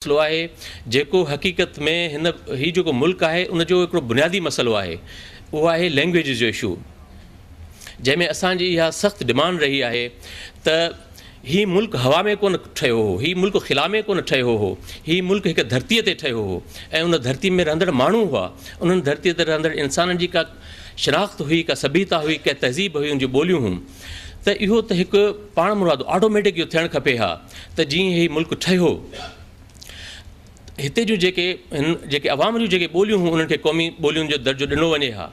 مسئلو آهي جيڪو حقيقت ۾ هن هي جيڪو ملڪ آهي ان جو هڪڙو بنيادي مسئلو آهي اهو آهي لينگويجز جو اشو جنهن ۾ اسان جي اها سخت ڊمانڊ رهي آهي ته هي ملڪ هوا ۾ ڪونه ٺهيو هو هي ملڪ خلا ۾ ڪونه ٺهيو هو هي ملڪ هڪ ڌرتي تي ٺهيو هو ۽ ان ڌرتي ۾ رهندڙ ماڻهو هئا انهن ڌرتي تي رهندڙ انسانن جي ڪا شناخت هئي ڪا سڀيتا هئي ڪا تهذيب هئي ان جون ٻوليون هيون ته اهو ته هڪ پاڻمرادو آٽوميٽڪ اهو ٿيڻ کپي ها ته جيئن هي ملڪ ٺهيو هتي جون جيڪي هن جيڪي عوام جون جيڪي ٻوليون هيون انهن کي قومي ٻوليون جو درجو ڏنو وڃي ها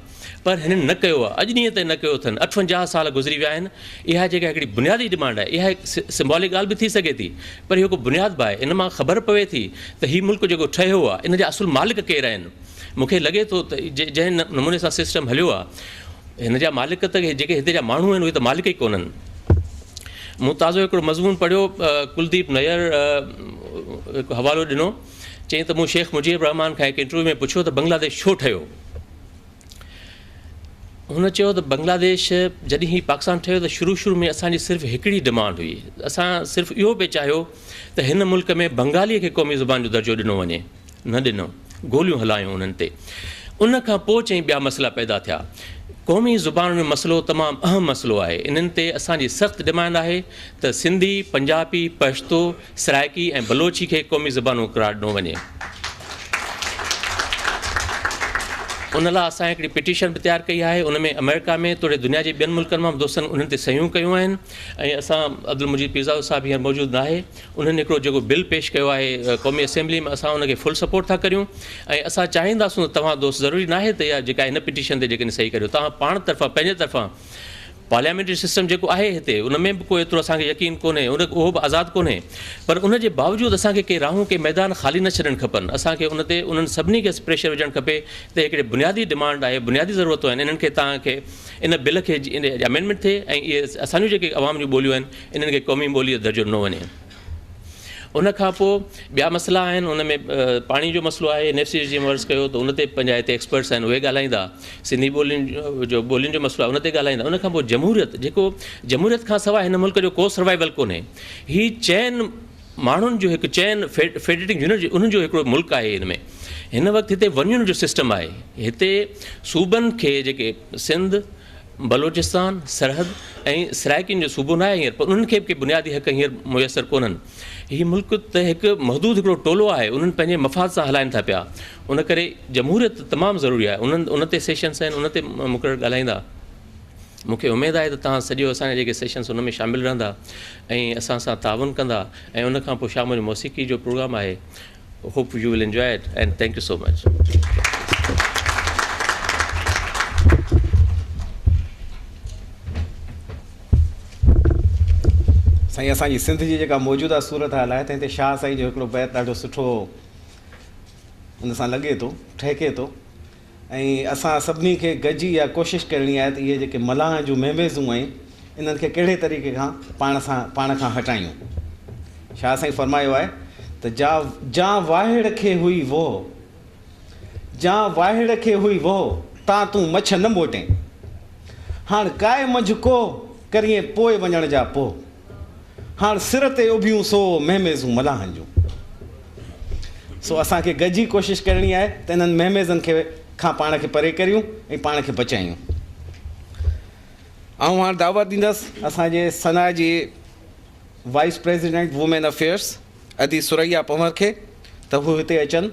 پر هنن نه ڪيو آهي اڄ ڏينهن تائين نه ڪيو اٿن اٺونجاهه سال گذري ويا آهن اها جيڪا هڪڙي بنيادي ڊمانڊ آهي اها هڪ سمبالڪ ڳالهه به ٿي سگهي ٿي پر اهو هڪ بنياد به آهي ان مان خبر پوي ٿي ته هي ملڪ جيڪو ٺهيو آهي ان جا اصل مالڪ ڪير آهن مون کي لڳي ٿو ته جنهن نموني سان سسٽم هليو آهي هن جا مالڪ ته جيڪي هتي جا ماڻهو آهن اهي ته مالڪ ئي ڪونهن مون تازو هڪڙو مضمون پڙهيو ڪلديپ نير هڪ حوالو ڏنو چيائين ته مون شيخ مجيب الرحمان کان هڪ انٽرويو ۾ پڇيو ته بنگلاديش ڇو ٺهيو هن چيو ته بنگلاديش جڏهن هي پاڪستان ٺهيو ته شروع شروع ۾ اسانجي صرف هڪڙي ڊمانڊ هئي اسان صرف اهو پئي چاهيو ته هن ملڪ ۾ بنگالي کي قومي زبان جو درجو ڏنو وڃي نه ڏنو، گوليون هلايون انهن تي، ان کان پوء چئين ٻيا مسئلا پيدا ٿيا. قومي زبانن جو مسئلو تمام اهم مسئلو آهي، انهن تي اسان جي سخت ڊمانڊ آهي ته سنڌي، پنجابي، پشتو، سرائڪي ۽ بلوچي کي قومي زبانون قرار ڏنو وڃي. ان لاء اسان هڪڙي پٽيشن به تيار ڪئي آهي، ان ۾ آمريڪا ۾ توڙي دنيا جي ٻين ملڪن مان به دوستن انهن تي صحيحون ڪيون آهن ۽ اسان عبدالمجيد پيرزادو صاحب هينئر موجود ناهي، انهن هڪڙو جيڪو بل پيش ڪيو آهي قومي اسيمبلي ۾ اسان ان کي فل سپورٽ ٿا ڪريون ۽ اسان چاهينداسون ته توهان دوست ضروري ناهي ته اها جيڪا هن پٽيشن تي جيڪڏهن صحيح ڪريو توهان پاڻ طرفان پنهنجي طرفان پارليامينٽري سسٽم جيڪو آهي هتي ان ۾ به ڪو ايترو اسان کي يقين ڪونهي ان اهو به آزاد ڪونهي پر ان جي باوجود اسان کي ڪي راهون ڪي ميدان خالي نه ڇڏڻ کپن اسان کي ان تي انهن سڀني کي پريشر وجهڻ کپي ته هڪڙي بنيادي ڊمانڊ آهي بنيادي ضرورتون آهن انهن کي توهان کي ان بل کي جي امينڊمينٽ ٿئي ۽ اهي اسان جون جيڪي عوام جون ٻوليون آهن انهن کي قومي ٻولي جو درجو ڏنو وڃي. ان کان پوء ٻيا مسئلا آهن ان ۾ پاڻي جو مسئلو آهي اين ايف سي جي عرض ڪيو ته ان تي پنهنجا هتي ايڪسپرٽس آهن اهي ڳالهائيندا سنڌي ٻولين جو ٻولين جو مسئلو آهي ان تي ڳالهائيندا ان کان پوء جمهوريت جيڪو جمهوريت کان سواء هن ملڪ جو ڪو سروائيول ڪونهي هي چئن ماڻهن جو هڪ چئن فيڊريٽنگ يونٽ جو انهن جو هڪڙو ملڪ آهي هن ۾ هن وقت هتي ونيون جو سسٽم آهي هتي صوبن کي جيڪي سنڌ بلوچستان سرحد ۽ سرائيڪين جو صوبو ناهي هينئر پر انهن کي به ڪي بنيادي حق هينئر ميسر ڪونهن هي ملڪ ته هڪ محدود هڪڙو ٽولو آهي انهن پنهنجي مفاد سان هلائين ٿا پيا ان ڪري جمهوريت تمام ضروري آهي انهن ان تي سيشنس آهن ان تي مقرر ڳالهائيندا مون کي اميد آهي ته تهان سڄو اسان جا جيڪي سيشنس ان ۾ شامل رهندا ۽ اسان سان تعاون ڪندا ۽ ان کان پوء شام جو موسيقي جو پروگرام آهي Hope you will enjoy it and thank you so much. سائين اسان جي سنڌ جي جيڪا موجوده صورت حال آهي تنهن تي شاهه سائين جو هڪڙو بيت ڏاڍو سٺو ان سان لڳي ٿو ٺهڪي ٿو ۽ اسان سڀني کي گڏجي اها ڪوشش ڪرڻي آهي ته اهي جيڪي ملاحن جون ميميزون آهن انهن کي ڪهڙي طريقي کان پاڻ سان پاڻ کان هٽايون. شاهه سائين فرمايو آهي ته جا جان واهڙ کي هئي ووهه جان واهڙ کي هئي ووهه تان تون مڇ نه موٽين هاڻ ڪائي منجهه ڪوهه ڪريين پوء وڃڻ جا پوهه هاڻ سر تي اڀيون سو ميميزون ملاحن جون. سو اسان کي گڏجي ڪوشش ڪرڻي آهي ته انهن مهميزن کي کان پاڻ کي پري ڪريون ۽ پاڻ کي بچايون. آئون هاڻ دعوت ڏيندس اسان جي سنا جي وائيس پريزيڊنٽ وومين افيئرس ادي ثريا پنور کي ته هو هتي اچن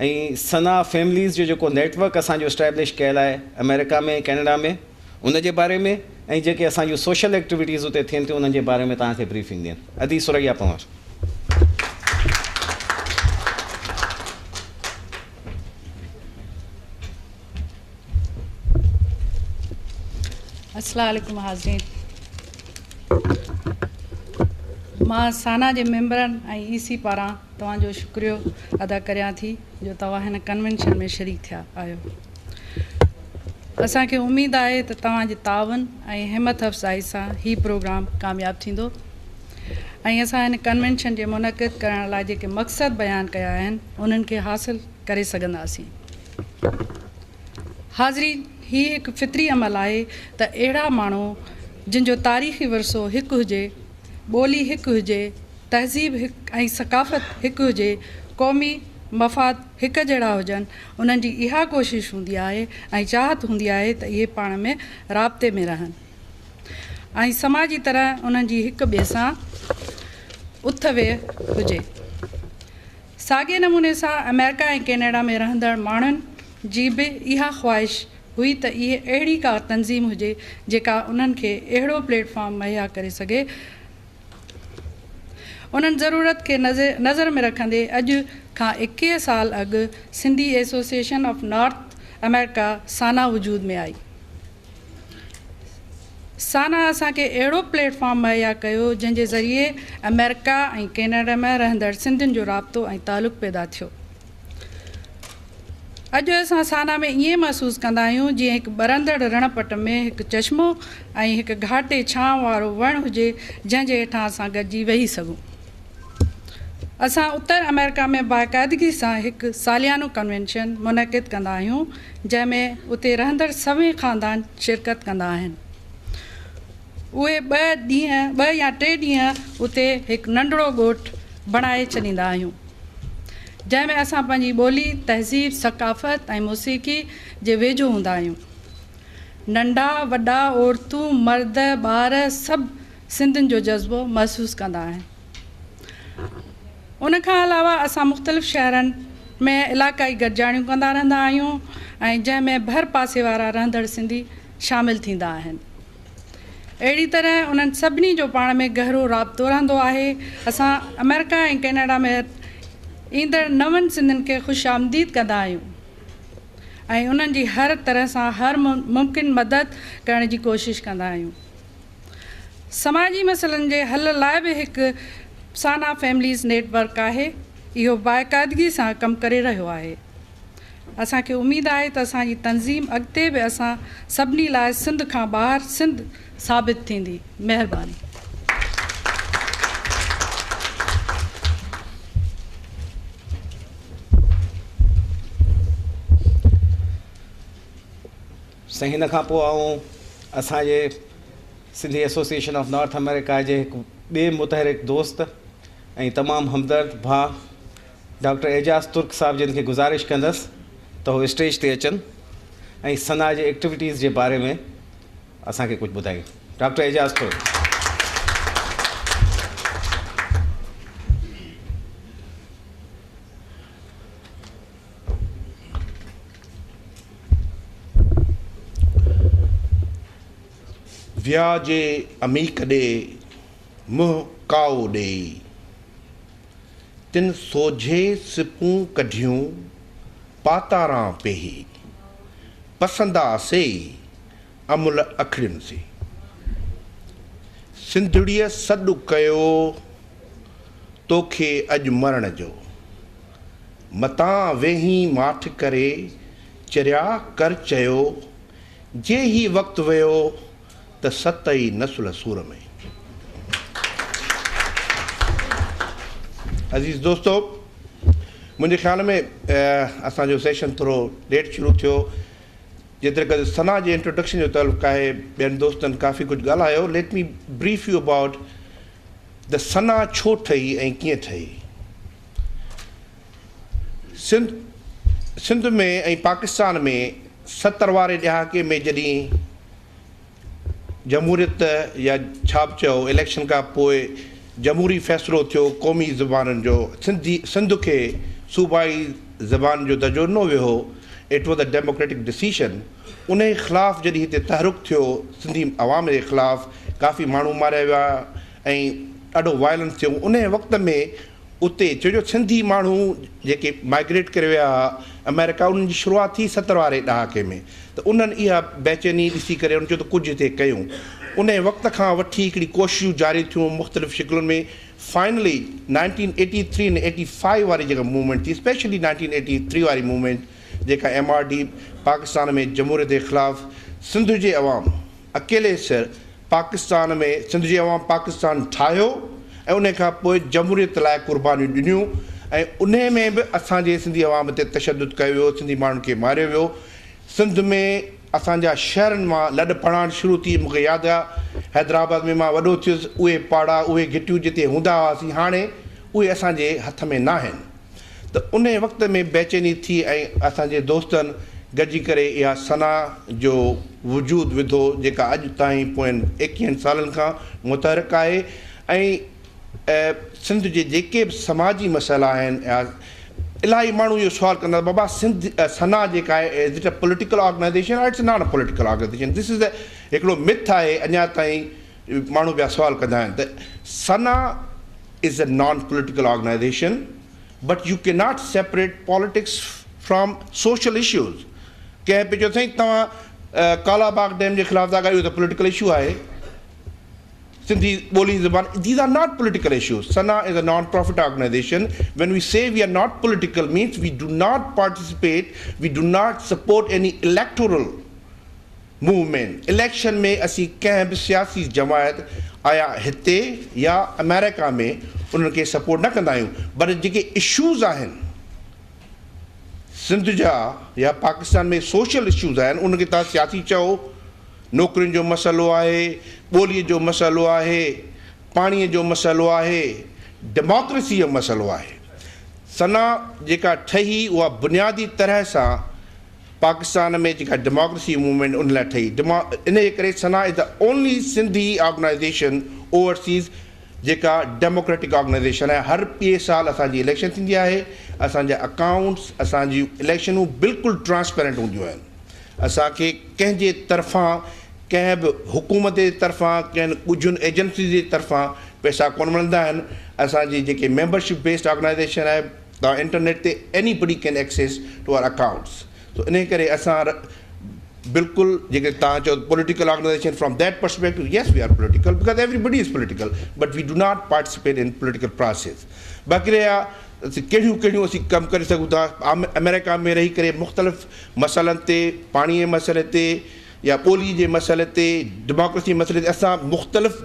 ۽ سنا فيمليز جو جيڪو نيٽ ورڪ اسان جو اسٽيبلش ڪيل آهي آمريڪا ۾ ڪينيڊا ۾، ان جي باري ۾ ۽ جيڪي اسان جون سوشل ايڪٽيويٽيز اتي ٿين ٿيون انهن جي باري ۾ توهان کي بريفنگ ڏين. ادي ثريا پنهور. السلام عليڪم حاضرين مان سانا جي ميمبرن ۽ اي سي پاران توهان جو شڪريو ادا ڪريان ٿي جو توهان هن ڪنوينشن ۾ شريڪ ٿيا آهيو اسان کي اميد آهي ته توهان جي تعاون ۽ همت افزائي سان هي پروگرام ڪامياب ٿيندو ۽ اسان هن ڪنوينشن جي منعقد ڪرڻ لاء جيڪي مقصد بيان ڪيا آهن انهن کي حاصل ڪري سگهنداسين حاضرين هي هڪ فطري عمل آهي ته اهڙا ماڻهو جن جو تاريخي ورثو هڪ هجي ٻولي هڪ هجي تهذيب هڪ ۽ ثقافت هڪ هجي قومي مفاد هڪ جهڙا هجن، انهن جي اها ڪوشش هوندي آهي ۽ چاهت هوندي آهي ته اهي پاڻ ۾ رابطي ۾ رهن ۽ سماجي طرح انهن جي هڪ ٻئي سان اٿ ويهه هجي. ساڳئي نموني سان آمريڪا ۽ ڪينيڊا ۾ رهندڙ ماڻهن جي به اها خواهش هئي ته اهي اهڙي ڪا تنظيم هجي جيڪا انهن کي اهڙو پليٽ فارم مهيا ڪري سگهي انهن ضرورت کي نظر ۾ رکندي اڄ کان ايڪيهه سال اڳ Sindhi association of North America, SANA, وجود ۾ آئي. سانا اسان کي اهڙو پليٽ فارم مهيا ڪيو جنهن جي ذريعي آمريڪا ۽ ڪينيڊا ۾ رهندڙ سنڌين جو رابطو ۽ تعلق پيدا ٿيو. اڄ اسان سانا ۾ ائين محسوس ڪندا آهيون جيئن هڪ ٻرندڙ رڻ پٽ ۾ هڪ چشمو ۽ هڪ گهاٽي ڇانو وارو وڻ هجي جنهن جي هيٺان اسان گڏجي ويهي سگهون. اسان اتر آمريڪا ۾ باقاعدگي سان هڪ ساليانو ڪنوينشن منعقد ڪندا آهيون جنهن ۾ اتي رهندڙ سوين خاندان شرڪت ڪندا آهن. اهي ٻه ڏينهن ٻه يا ٽي ڏينهن اتي هڪ ننڍڙو ڳوٺ بڻائي ڇڏيندا آهيون. جنهن ۾ اسان پنهنجي ٻولي، تهذيب، ثقافت ۽ موسيقي جي ويجهو هوندا آهيون. ننڍا، وڏا، عورتون، مرد، ٻار سڀ سنڌين جو جذبو محسوس ڪندا آهن. ان کان علاوه اسان مختلف شهرن ۾ علاقائي گڏجاڻيون ڪندا رهندا آهيون ۽ جنهن ۾ ڀر پاسي وارا رهندڙ سنڌي شامل ٿيندا آهن. اهڙي طرح انهن سڀني جو پاڻ ۾ گهرو رابطو رهندو آهي. اسان آمريڪا ۽ ڪينيڊا ۾ ايندڙ نون سنڌين کي خوش آمديد ڪندا آهيون ۽ انهن جي هر طرح سان هر ممڪن مدد ڪرڻ جي ڪوشش ڪندا آهيون. سماجي مسئلن جي حل لاء به هڪ سانا فيمليز نيٽ ورڪ آهي. اهو باقاعدگي سان ڪم ڪري رهيو آهي. اسان کي اميد آهي ته اسان جي تنظيم اڳتي به اسان سڀني لاء سنڌ کان ٻاهر سنڌ ثابت ٿيندي. مهرباني. سائين ان کان پوء آئون اسان جي Sindhi association of North America جي هڪ ٻئي متحرڪ دوست ۽ تمام همدرد ڀاء ڊاڪٽر اعجاز ترڪ صاحب جن کي گذارش ڪندس ته هو اسٽيج تي اچن ۽ ثنا جي ايڪٽيوٽيز جي باري ۾ اسان کي ڪجهه ٻڌائين ڊاڪٽر اعجاز ترڪ. ويا جي عميق ڏي منهن ڪائو ڏيئي. تن سوجهي سپون ڪڍيون پاتاران پيهي، پسندا سيئي امل اکڙين سي. سنڌڙيء سڏ ڪيو توکي اڄ مرڻ جو، متان ويهين ماٺ ڪري چريا ڪر چيو جي هي وقت ويو ته ست ئي نسل سور ۾. عزيز دوستو منهنجي خيال ۾ اسان جو سيشن ٿورو ليٽ شروع ٿيو جيتري قدر ثنا جي انٽروڊڪشن جو تعلق آهي ٻين دوستن ڪافي ڪجهه ڳالهايو let me brief you about ته ثنا ڇو ٺهي ۽ ڪيئن ٺهي. سنڌ سنڌ ۾ ۽ پاڪستان ۾ ستر واري ڏهاڪي ۾ جڏهن جمهوريت يا ڇا به چئو اليڪشن کان پوء جمهوري فيصلو ٿيو قومي زبانن جو سنڌي سنڌ کي صوبائي زبان جو درجو ڏنو ويو هو it was a democratic decision انهي خلاف جڏهن هتي تحرڪ ٿيو سنڌي عوام جي خلاف ڪافي ماڻهو ماريا ويا ۽ ڏاڍو وائلنس ٿيو انهي وقت ۾ اتي ڇو جو سنڌي ماڻهو جيڪي مائگريٽ ڪري ويا ها امريڪا انهن جي شروعات ٿي ستر واري ڏهاڪي ۾ ته انهن اها بيچيني ڏسي ڪري انهن چيو ته ڪجهه هتي ڪيون انهي وقت کان وٺي هڪڙي ڪوششون جاري ٿيون مختلف شڪلن ۾ finally nineteen eighty three ۽ eighty five واري جيڪا موومينٽ ٿي اسپيشلي نائنٽين ايٽي ٿري واري موومينٽ جيڪا ايم آر ڊي پاڪستان ۾ جمهوريت جي خلاف سنڌ جي عوام اڪيلي سر پاڪستان ۾ سنڌ جي عوام پاڪستان ٺاهيو ۽ انهي کان پوء جمهوريت لاء قربانيون ڏنيون ۽ انهي ۾ به اسان جي سنڌي عوام تي تشدد ڪيو ويو سنڌي ماڻهن کي ماريو ويو سنڌ ۾ اسان جا شهرن مان لڏ پڙاڻ شروع ٿي مون کي ياد آ حيدرآباد ۾ مان وڏو ٿيس اهي پاڙا اهي گهٽيون جتي هوندا هئاسين هاڻي اهي اسان جي هٿ ۾ ناهن. ته انهيء وقت ۾ بيچيني ٿي ۽ اسان جي دوستن گڏجي ڪري اها ثنا جو وجود وڌو جيڪا اڄ تائين پوئين ايڪيهن سالن کان متحرڪ آهي ۽ سنڌ جي جيڪي به سماجي مسئلا آهن الاهي ماڻهو اهو سوال ڪندا ته بابا سنڌ ثنا جيڪا آهي is it a political organization or it's not a political organization this is a هڪڙو مٿ آهي اڃا تائين ماڻهو ٻيا سوال ڪندا آهن ته SANA is a non political organization but you can not separate politics from social issues ڪنهن پي چيو سائين توهان ڪالا باغ ڊيم جي خلاف ٿا ڳايو ته پوليٽيڪل اشو آهي سنڌي ٻولي زبان these are not political issues SANA is a non profit organization when we see we are not political means we do not participate we do not support any electoral movement, election ۾ اسين ڪنهن به سياسي جماعت آيا هتي يا آمريڪا ۾ انهن کي سپورٽ نه ڪندا آهيون پر جيڪي اشوز آهن سنڌ جا يا پاڪستان ۾ سوشل اشوز آهن انهن کي توهان سياسي چئو نوڪرين جو مسئلو آهي ٻولي جو مسئلو آهي پاڻي جو مسئلو آهي ڊيماڪريسي جو مسئلو آهي سنا جيڪا ٺهي اها بنيادي طرح سان پاڪستان ۾ جيڪا ڊيماڪرسي موومينٽ ان لاء ٺهي ڊيما انهيء ڪري SANA is the only Sindhi organization overseas جيڪا ڊيموڪريٽڪ آرگنائيزيشن آهي هر ٻئي سال اسان جي اليڪشن ٿيندي آهي اسان جا اڪائونٽس اسان جي اليڪشنون بلڪل ٽرانسپيرنٽ هونديون آهن اسان کي ڪنهن جي طرفان ڪنهن به حڪومت جي طرفان ڪنهن ڳجهين ايجنسيز جي طرفان پئسا ڪونه ملندا آهن اسان جي جيڪي ميمبرشپ بيسڊ آرگنائيزيشن آهي توهان انٽرنيٽ تي anybody can access to our accounts so انهي ڪري اسان ر بلڪل جيڪي توهان چئو political organization from that perspective yes we are political because everybody is political but we do not participate in political process باقي رهيا ڪهڙيون ڪهڙيون اسين ڪم ڪري سگهون ٿا آم امريڪا ۾ رهي ڪري مختلف مسئلن تي پاڻي جي مسئلي تي يا ٻولي جي مسئلي تي ڊيموڪريسي مسئلي تي اسان مختلف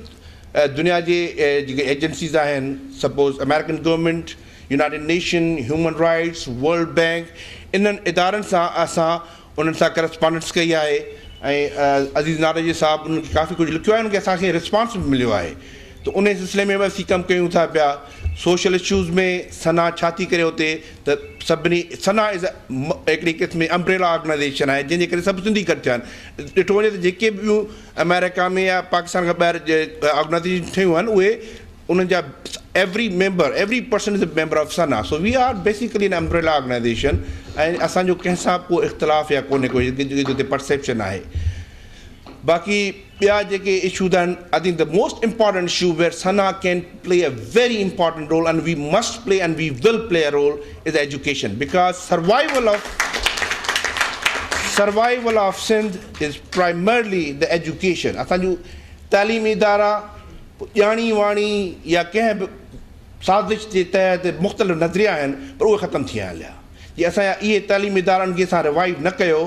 دنيا جي جيڪي ايجنسيز آهن suppose American government United Nation, human rights, world bank انهن ادارن سان اسان انهن سان ڪرسپانڊنس ڪئي آهي ۽ عزيز نارنجي صاحب انهن کي ڪافي ڪجهه لکيو آهي انهن کي اسان کي رسپانس به مليو آهي ته انهي سلسلي ۾ به اسين ڪم ڪيون ٿا پيا سوشل اشوز ۾ سنا ڇا ٿي ڪري اتي ته سڀني سنا از هڪڙي قسم جي امبريلا آرگنائيزيشن آهي جنهن جي ڪري سڀ سنڌي گڏ ٿيا آهن ڏٺو وڃي ته جيڪي به ٻيون آمريڪا ۾ يا پاڪستان کان ٻاهر جي آرگنائزيشن ٺهيون آهن اهي انهن جا every member every person is a member of SANA so we are basically in umbrella organization ۽ اسان جو ڪنهن سان ڪو اختلاف يا ڪونهي ڪو جتي پرسيپشن آهي باقي ٻيا جيڪي اشوز آهن I think the most important issue where سنا can play a very important role and we must play and we will play a role is education because survival of survival of Sindh is primarily the education اسان جون تعليمي ادارا ڄاڻي واڻي يا ڪنهن به سازش جي تحت مختلف نظريا آهن پر اهي ختم ٿي آهن لها جي اسان جا اهي تعليمي ادارا ان کي اسان ريوائيو نه ڪيو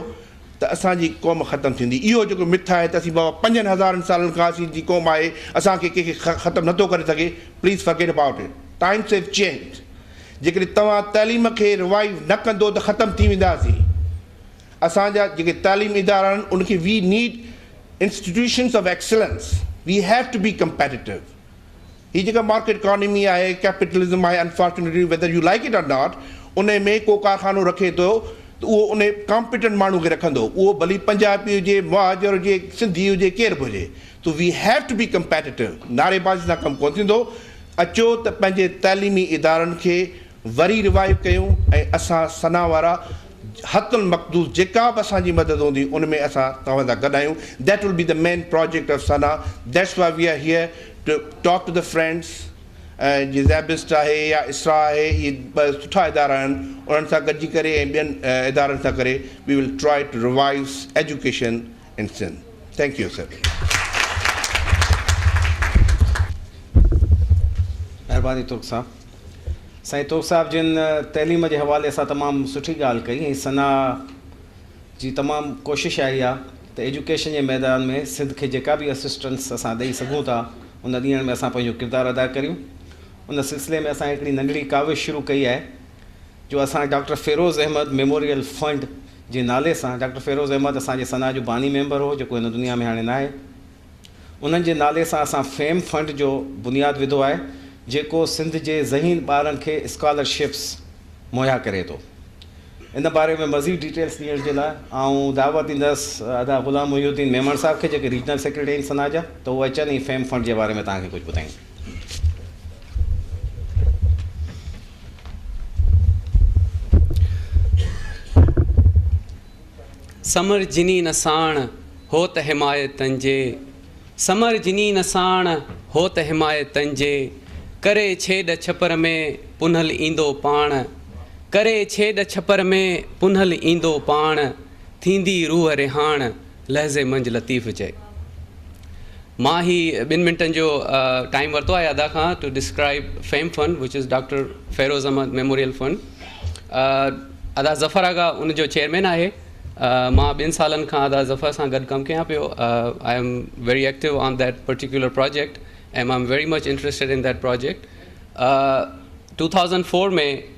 ته اسان جي قوم ختم ٿيندي اهو جيڪو مٿ آهي ته اسين بابا پنجن هزارن سالن کان اسين جي قوم آهي اسان کي ڪنهن کي ختم نه ٿو ڪري سگهي please forget about it times have changes جيڪڏهن توهان تعليم کي ريوائيو نه ڪندو ته ختم ٿي وينداسين. اسان جا جيڪي تعليمي ادارا آهن ان کي we need institutions of excellence we have to be competitive هي جيڪا مارڪيٽ اڪانمي آهي ڪيپيٽلزم آهي unfortunately whether you like it or not ان ۾ ڪو ڪارخانو رکي ٿو ته اهو ان ڪامپيٽنٽ ماڻهو کي رکندو اهو ڀلي پنجابي هجي مهاجر هجي سنڌي هجي ڪير به هجي تو we have to be competitive نعري بازي سان ڪم ڪونه ٿيندو اچو ته پنهنجي تعليمي ادارن کي وري روايو ڪيون ۽ اسان ثنا وارا حت المقدور جيڪا به اسان جي مدد هوندي ان ۾ اسان توهان سان گڏ آهيون that will be the main project of SANA that's why we are here to talk to the friends ۽ جي زيبسٽ آهي يا اسرا آهي اهي ٻه سٺا ادارا آهن انهن سان گڏجي ڪري ۽ ٻين ادارن سان ڪري we will try to revives education in Sindh thank you sir. مهرباني ترڪ صاحب. سائين ترڪ صاحب جن تعليم جي حوالي سان تمام سٺي ڳالهه ڪئي ۽ ثنا جي تمام ڪوشش آهي اها ته ايجوڪيشن جي ميدان ۾ سنڌ کي جيڪا به اسسٽنس اسان ڏئي سگهون ٿا ان ڏيڻ ۾ اسان پنهنجو ڪردار ادا ڪريون ان سلسلي ۾ اسان هڪڙي ننڍڙي ڪاوش شروع ڪئي آهي جو اسان doctor Feroz Ahmed memorial fund جي نالي سان ڊاڪٽر فيروز احمد اسان جي ثنا جو باني ميمبر هو جيڪو هن دنيا ۾ هاڻي ناهي انهن جي نالي سان اسان فيم فنڊ جو بنياد وڌو آهي جيڪو سنڌ جي ذهين ٻارن کي اسڪالر شپس مهيا ڪري ٿو ان باري ۾ مزيد ڊيٽيلس ڏيڻ جي لاء آئون دعوت ڏيندس ادا غلام محي الدين ميمڻ صاحب کي جيڪي ريجنل سيڪريٽري آهن ثنا جا ته هو اچن ۽ فيم فنڊ جي باري ۾ توهان کي ڪجهه ٻڌائين. سمر جني نه ساڻ هوت حمايتن جي سمر جني نه ساڻ هوت حمايتن جي ڪري ڇيڏ ڇپر ۾ پنهل ايندو پاڻ ڪري ڇيڏ ڇپر ۾ پنهل ايندو پاڻ ٿيندي روح رهاڻ لحظي منجھ لطيف چئي. مان هي ٻن منٽن جو ٽائيم ورتو آهي ادا کان to describe FAME fund which is doctor Feroz Ahmed memorial fund ادا ظفر آغا ان جو چيئرمين آهي مان ٻن سالن کان ادا ظفر سان گڏ ڪم ڪيان پيو I am very active on that particular project um I am very much interested in that project two thousand four ۾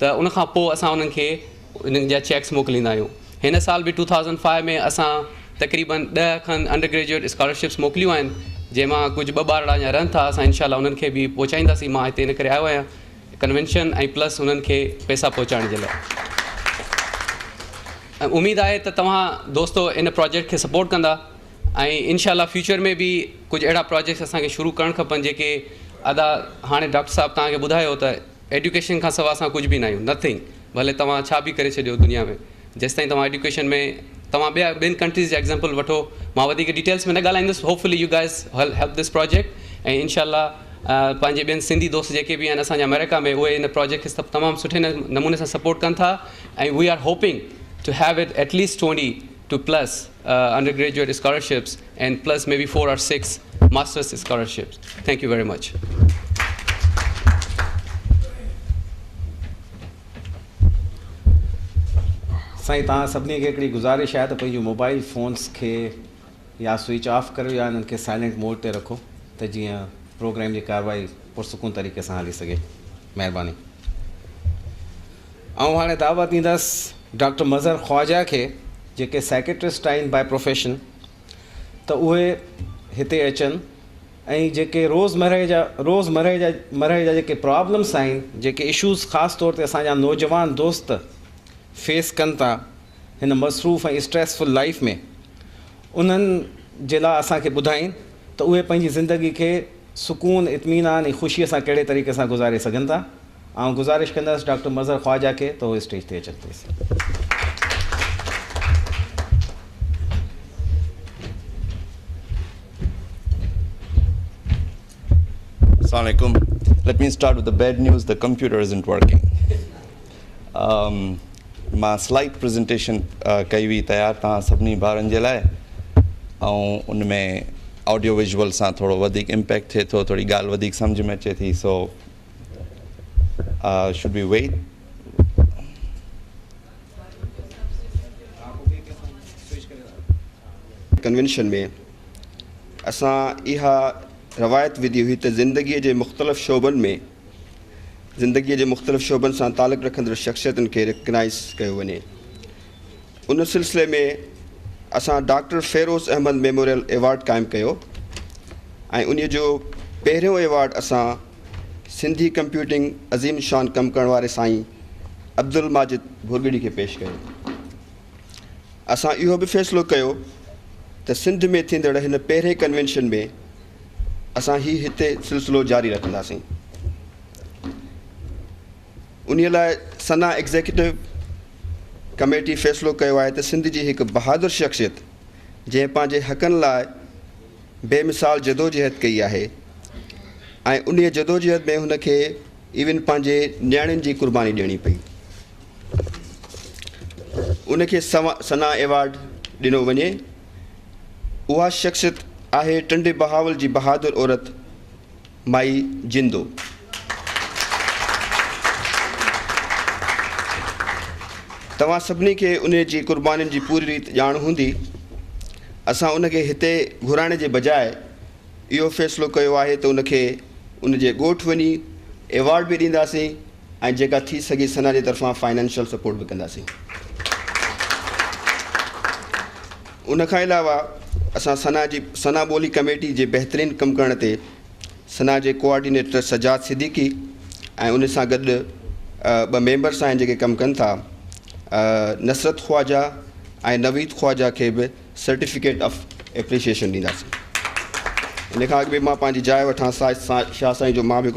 ته ان کان پوء اسان انهن کي انهن جا چيڪس موڪليندا آهيون. هن سال به ٽو ٿائوزنڊ فائيو ۾ اسان تقريبن ڏهه کن انڊر گريجوئيٽ اسڪالرشپس موڪليون آهن جنهن مان ڪجهه ٻه ٻارڙا اڃا رهن ٿا اسان انشاء الله انهن کي به پهچائينداسين مان هتي ان ڪري آيو آهيان ڪنوينشن ۽ پلس انهن کي پئسا پهچائڻ جي لاء ۽ اميد آهي ته توهان دوستو ان پراجيڪٽ کي سپورٽ ڪندا ۽ انشاء الله فيوچر ۾ به ڪجهه اهڙا پراجيڪٽس اسان کي شروع ڪرڻ کپن جيڪي ادا هاڻي ڊاڪٽر صاحب توهان کي ٻڌايو ته ايڊيوڪيشن کان سوا اسان ڪجهه به ناهيون، Nothing، ڀلي توهان ڇا به ڪري ڇڏيو دنيا ۾ جيستائين توهان ايڊيوڪيشن ۾ توهان ٻيا ٻين ڪنٽريز جا ايگزامپل وٺو مان وڌيڪ ڊيٽيلس ۾ نه ڳالهائيندس Hopefully you guys will help this project ۽ انشاء الله پنهنجي ٻين سنڌي دوست جيڪي به آهن اسان جا امريڪا ۾ اهي ان پراجيڪٽ کي تمام سٺي نموني سان سپورٽ ڪن ٿا ۽ we are hoping to have at at least twenty two plus undergraduate scholarships and plus maybe four or six masters scholarships thank you very much. سائين توهان سڀني کي هڪڙي گذارش آهي ته پنهنجون موبائيل فونس کي يا سوئچ آف ڪريو يا انهن کي سائلنٽ موڊ تي رکو ته جيئن پروگرام جي ڪارروائي پرسڪون طريقي سان هلي سگهي. مهرباني. آئون هاڻي دعوت ڏيندس ڊاڪٽر مظهر خواجه کي جيڪي سائيڪيٽرسٽ آهن باء پروفيشن ته اهي هتي اچن ۽ جيڪي روز مرهه جا روز مرهه جا مرهه جا جيڪي پرابلمس آهن جيڪي اشوز خاص طور تي اسان جا نوجوان دوست فيس ڪن ٿا هن مصروف ۽ اسٽريس فل لائيف ۾ انهن جي لا اسان کي ٻڌائين ته اهي پنهنجي زندگي کي سڪون اطمينان ۽ خوشي سان ڪهڙي طريقي سان گذاري سگهن ٿا. آئون گذارش ڪندس ڊاڪٽر مظهر خواجه کي ته هو اسٽيج تي اچن پليز. السلام عليڪم let me start with bad news the computer isn't working مان سلائيڊ پرزنٽيشن ڪئي هئي تيار توهان سڀني ڀارن جي لاء ۽ ان ۾ آڊيو ويجول سان ٿورو وڌيڪ امپيڪٽ ٿئي ٿو ٿوري ڳالهه وڌيڪ سمجهه ۾ اچي ٿي so should we wait convention ۾ اسان اها روايت وڌي هئي ته زندگيء جي مختلف شعبن ۾ زندگيء جي مختلف شعبن سان تعلق رکندڙ شخصيتن کي رڪگنائز ڪيو وڃي ان سلسلي ۾ اسان doctor Feroz Ahmed memorial award قائم ڪيو ۽ ان جو پهريون ايوارڊ اسان سنڌي ڪمپيوٽنگ عظيم شان ڪم ڪرڻ واري سائين عبدالماجد ڀوڳڙي کي پيش ڪيو. اسان اهو به فيصلو ڪيو ته سنڌ ۾ ٿيندڙ هن پهرين ڪنوينشن ۾ اسان هي هتي سلسلو جاري رکنداسين. انهي لاء سنا ايگزيڪيوٽو ڪميٽي فيصلو ڪيو آهي ته سنڌ جي هڪ بهادر شخصيت جنهن پنهنجي حقن لاء بي مثال جدوجهد ڪئي آهي ۽ انهيء جدوجهد ۾ هن کي ايون پنهنجي نياڻين جي قرباني ڏيڻي پئي. ان کي ثنا ايوارڊ ڏنو وڃي. اها شخصيت آهي ٽنڊي بهاول جي بهادر عورت. مائي جندو توهان سڀني کي انهي جي قربانين جي پوري ريت ڄاڻ هوندي اسان ان کي هتي گهرائڻ جي بجاء اهو فيصلو ڪيو آهي ته ان کي ان جي ڳوٺ وڃي ايوارڊ به ڏينداسين ۽ جيڪا ٿي سگهي سنا جي طرفان فائنينشل سپورٽ به ڪنداسين. ان کان علاوه اسان سنا جي سنا ٻولي ڪميٽي جي بهترين ڪم ڪرڻ تي سنا جي ڪوآرڊينيٽر سجاد صديقي ۽ ان سان گڏ ٻه ميمبرس آهن جيڪي ڪم ڪن ٿا نصرت خواجه ۽ نويد خواجه کي به سرٽيفڪيٽ آف اپريشيشن ڏينداسين. ان کان اڳ به مان پنهنجي جاء وٺان شاهه سائين جو مان به هڪڙو